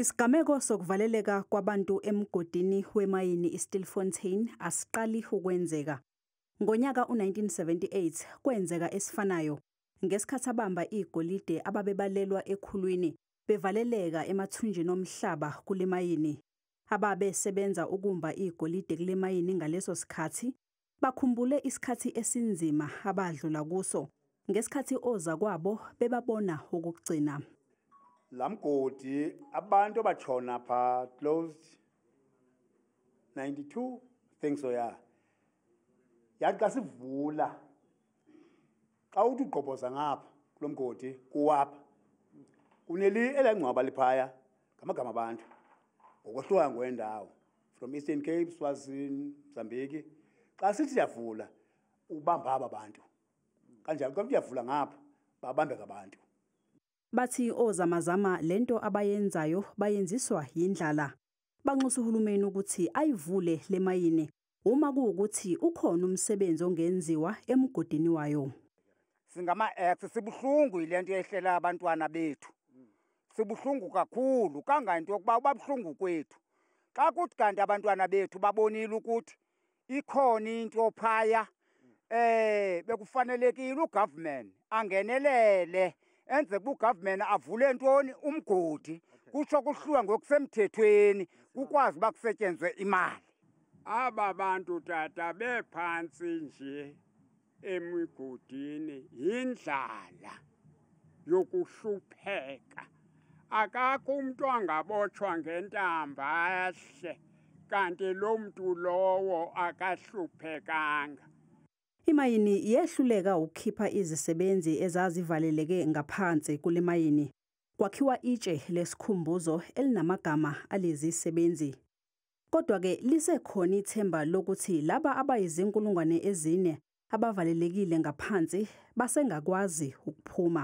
Isigameko sokuvaleleka kwabantu emgodini wemayini iStilfontein asiqali ukwenzeka. Ngonyaka u-1978 kwenzeka esifanayo ngesikhathi abamba igolide ababebalelwa ekhulwini bevaleleka emathunjini omhlaba kule mayini. Ababesebenza ukumba igolide kule mayini ngaleso sikhathi Bakhumbule isikhathi esinzima abadlula kuso ngesikhathi ozakwabo bebabona okugcina. Lamgodi abantu abachona pha closed 92 think so yeah. Yathi xa sivula xa uthi ugqobhoza ngapha kulomgodi kuwapha kuneli elangcwaba liphaya ngamagama abantu ngokwahluka ngwendawo from Eastern Cape, Swazini, Mozambique. Xa sithi siyavula ubamba aba bantu. Kanjalo xa uyavula ngapha babambeka abantu. Bathi ozamazama lento abayenzayo bayenziswa yindlala. Banxusa uhulumeni ukuthi ayivule lemayini uma kuwukuthi ukhona umsebenzi ongenziwa emgodini wayo. Singama-ex sibuhlungu yile nto yehlela abantwana bethu. sibuhlungu kakhulu kangangento yokuba ubabuhlungu kwethu xa kuthi kanti abantwana bethu babonile ukuthi ikhona into phaya eh bekufanelekile ugovernment angenelele enze kugovernment avule ntoni umgodi kusho kuhluwa ngokusemthethweni kukwazi bakusetshenzwe imali aba bantu tata bephansi nje emigodini yindlala yokuhlupheka akakho umuntu angabotshwa ngentamba ahle kanti lo muntu lowo akahluphekanga Imayini yehluleka ukukhipha izisebenzi ezazivaleleke ngaphansi kule mayini. Kwakhiwa itshe lesikhumbuzo elinamagama alezi sebenzi. Kodwa-ke lisekhona ithemba lokuthi laba abayizinkulungwane ezine abavalelekile ngaphansi basengakwazi ukuphuma.